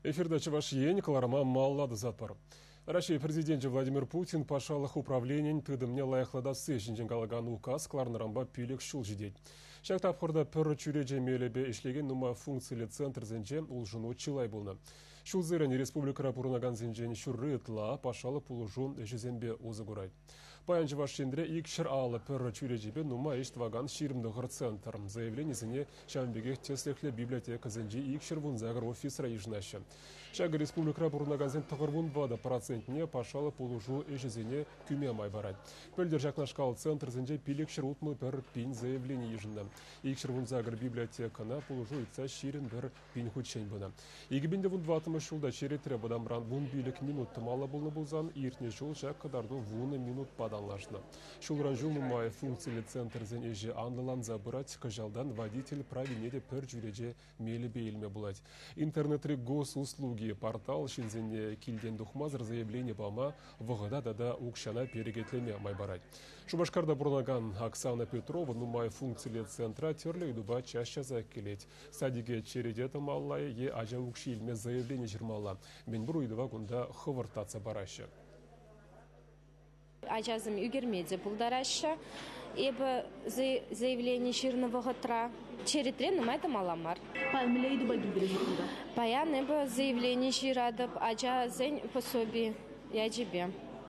Эфирта Чӑваш Ен кӑларӑма малалла тӑсатпӑр. Раҫҫей Президенчӗ Владимир Путин патшалӑх управленийӗн тытӑмне лайӑхлатасси ҫинчен калакан указ кӑларнӑранпа пилӗк ҫул ҫитет. Ҫак тапхӑрта пӗр чӳрече мелӗпе ӗҫлекен нумай функциллӗ центрсенче улшӑну чылай пулнӑ. Ҫулсерен республикӑра пурӑнакансенчен ҫурри ытла патшалӑх пулӑшу ӗҫӗсемпе усӑ курать. Паян Чӑваш Енре ик ҫӗр алӑ пӗр чӳречипе нумай ӗҫ тӑвакан ҫирӗм тӑхӑр центр заявленисене ҫавӑн пекех тӗслӗхлӗ библиотекӑсенчи ик ҫӗр вунсакӑр офисра йышӑнаҫҫӗ. Ҫакӑ республикӑра пурӑнакансен тӑхӑр вун ватӑ процентне патшалӑх пулӑшу ӗҫӗсене кӳме май парать. Пӗлтӗр ҫакнашкал центрсенче пилӗкҫӗр утмӑл пӗр пин заявлени йышӑннӑ. Ик ҫӗр вунсакӑр библиотекӑна пулӑшу ыйтса ҫирӗм пӗр Пин хутчен пынӑ. Икӗ пин те вунтӑваттӑмӗш ҫулта черетре вӑтамран вун пилӗк минут тӑмалла пулнӑ пулсан, иртнӗ ҫул ҫак кӑтарту вунӑ минутпа танлашнӑ. Ҫулран ҫул нумай функциллӗ центрсен ӗҫӗ анлӑланса пырать, кӑҫалтан водитель правине те пӗр чӳрече мелӗпе илме пулать. Интернетри госуслуги портал ҫынсене килтен тухмасӑр заявлени пама, вӑхӑта тата укҫана перекетлеме май парать. Шупашкарта пурӑнакан Оксана Петрова нумай функциллӗ центра тӗрлӗ ыйтупа час часах килет. Садике черете тӑмалла е ачан укҫи илме заявлени ҫырмалла. Мӗнпур ыйтӑва кунта хӑвӑрт татса параҫҫӗ. Ачасем ӳкерме те пултараҫҫӗ. Эпӗ заявлени ҫырнӑ вӑхӑтра черетре нумай тӑмалла мар. Паян мӗнле ыйтупа килтерӗҫ кунта? Паян эпӗ заявлени ҫыратӑп ачасен пособи ячӗпе.